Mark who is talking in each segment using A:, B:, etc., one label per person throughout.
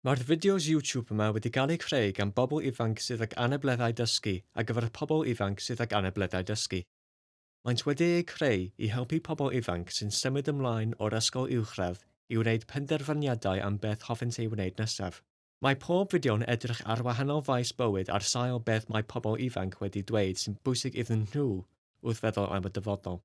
A: Mae'r fideos YouTube yma wedi gael eu creu gan bobl ifanc sydd ag anableddau dysgu ar gyfer y pobl ifanc sydd ag anableddau dysgu. Maent wedi eu creu i helpu pobl ifanc sy'n symud ymlaen o'r ysgol uwchradd i wneud penderfyniadau am beth hoffent ei wneud nesaf. Mae pob fideo'n edrych ar wahanol faes bywyd ar sail beth mae pobl ifanc wedi dweud sy'n bwysig iddyn nhw wrth feddwl am y dyfodol.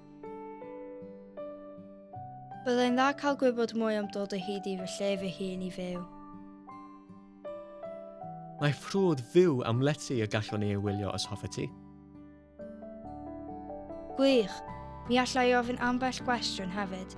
B: Byddai'n dda cael gwybod mwy am dod o hyd i fy lle fy hun i fyw.
A: Mae ffrwd fyw am lety y gallwn ei wylio os hoffe ti.
B: Gwych! Mi alla i ofyn ambell gwestiwn hefyd.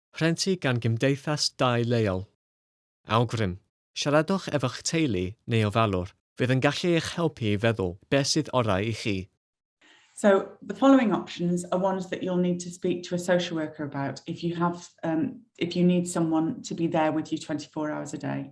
A: Rhentu gan gymdeithas dai leol. Awgrym, Siaradwch efo'ch teulu neu ofalwr, fydd yn gallu eich helpu i feddwl beth sydd orau i chi. So,
C: the following options are ones that you'll need to speak to a social worker about if you have, um, if you need someone to be there with you 24 hours a day.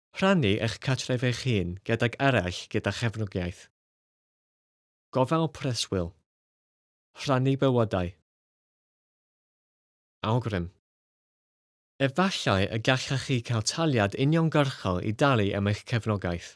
A: Rhannu eich cartref eich hun gydag eraill gyda chefnogaeth. Gofal preswyl. Rhannu bywydau. Awgrym. Efallai y gallech chi cael taliad uniongyrchol i dalu am eich cefnogaeth.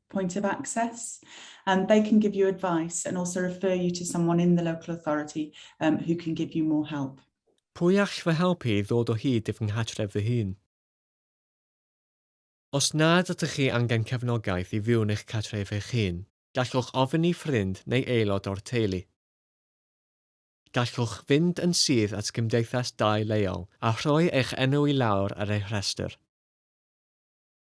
C: point of access. Um, they can give you advice and also refer you to someone in the local authority um, who can give you more help. Pwy all fy
A: helpu i ddod o hyd i fy nghartref fy hun? Os nad ydych chi angen cefnogaeth i fyw yn eich cartref eich hun, gallwch ofyn i ffrind neu aelod o'r teulu. Gallwch fynd yn syth at gymdeithas dai leol a rhoi eich enw i lawr ar eu rhestr.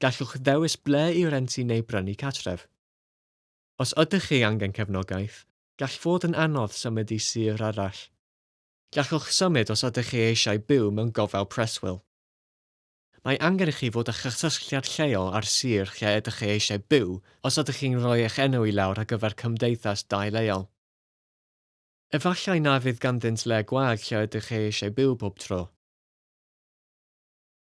A: Gallwch ddewis ble i rentu neu brynu cartref. Os ydych chi angen cefnogaeth, gall fod yn anodd symud i sir arall. Gallwch symud os ydych chi eisiau byw mewn gofal preswyl. Mae angen i chi fod â chysylltiad lleol â'r sir lle ydych chi eisiau byw os ydych chi'n rhoi eich enw i lawr ar gyfer cymdeithas dai leol. Efallai na fydd ganddynt le gwag lle ydych chi eisiau byw pob tro.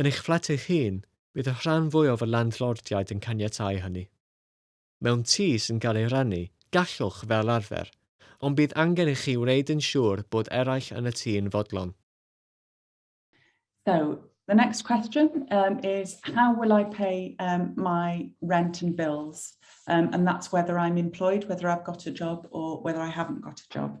A: Yn eich fflat eich hun, bydd y rhan fwyaf o landlordiaid yn caniatáu hynny. Mewn tŷ sy'n cael ei rannu, gallwch, fel arfer, ond bydd angen i chi wneud yn siŵr bod eraill yn y tŷ yn fodlon. So,
C: the next question um, is how will I pay um, my rent and bills? Um, and that's whether I'm employed, whether I've got a job or whether I haven't got a job.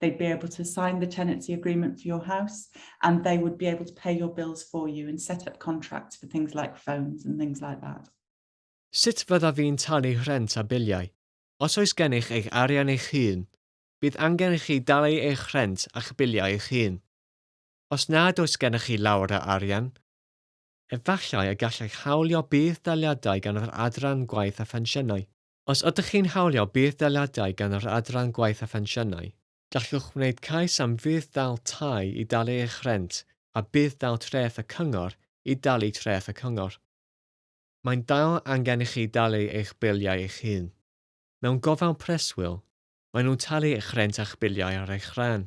C: They'd be able to sign the tenancy agreement for your house and they would be able to pay your bills for you and set up contracts for things like phones and things like that. Sut
A: fyddaf fi'n talu rhent a biliau? Os oes gennych eich arian eich hun, bydd angen i chi dalu eich rhent a'ch biliau eich hun. Os nad oes gennych chi lawer o arian, efallai y gallech hawlio budd-daliadau gan yr Adran Gwaith a Phensiynau. Os ydych chi'n hawlio budd-daliadau gan yr Adran Gwaith a Phensiynau, gallwch wneud cais am fudd-dal tai i dalu eich rhent a budd-dal treth y Cyngor i dalu treth y Cyngor. Mae'n dal angen i chi dalu eich biliau eich hun. Mewn gofal preswyl, maen nhw'n talu eich rhent a'ch biliau ar eich rhan.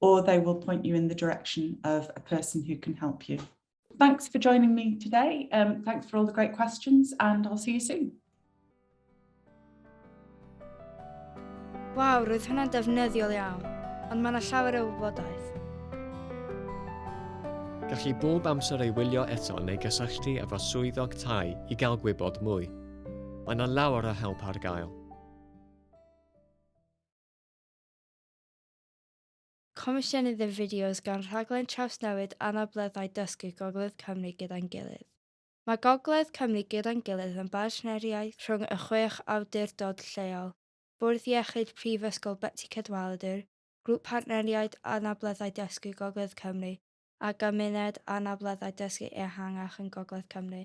C: or they will point you in the direction of a person who can help you. Thanks for joining me today. Um, thanks for all the great questions and I'll see you soon.
B: Waw, roedd hwnna'n defnyddiol iawn, ond mae yna llawer o wybodaeth.
A: Gall chi bob amser ei wylio eto neu gysylltu efo swyddog tai i gael gwybod mwy. Mae yna lawer o help ar gael.
B: Comisiynydd y fideos gan rhaglen trawsnewid anableddau dysgu Gogledd Cymru Gyda'n Gilydd. Mae Gogledd Cymru Gyda'n Gilydd yn bartneriaeth rhwng y chwech awdurdod lleol, Bwrdd Iechyd Prifysgol Betsi Cadwaladr, Grŵp Partneriaid Anableddau Dysgu Gogledd Cymru a Gymuned Anableddau Dysgu Ehangach yn Gogledd Cymru.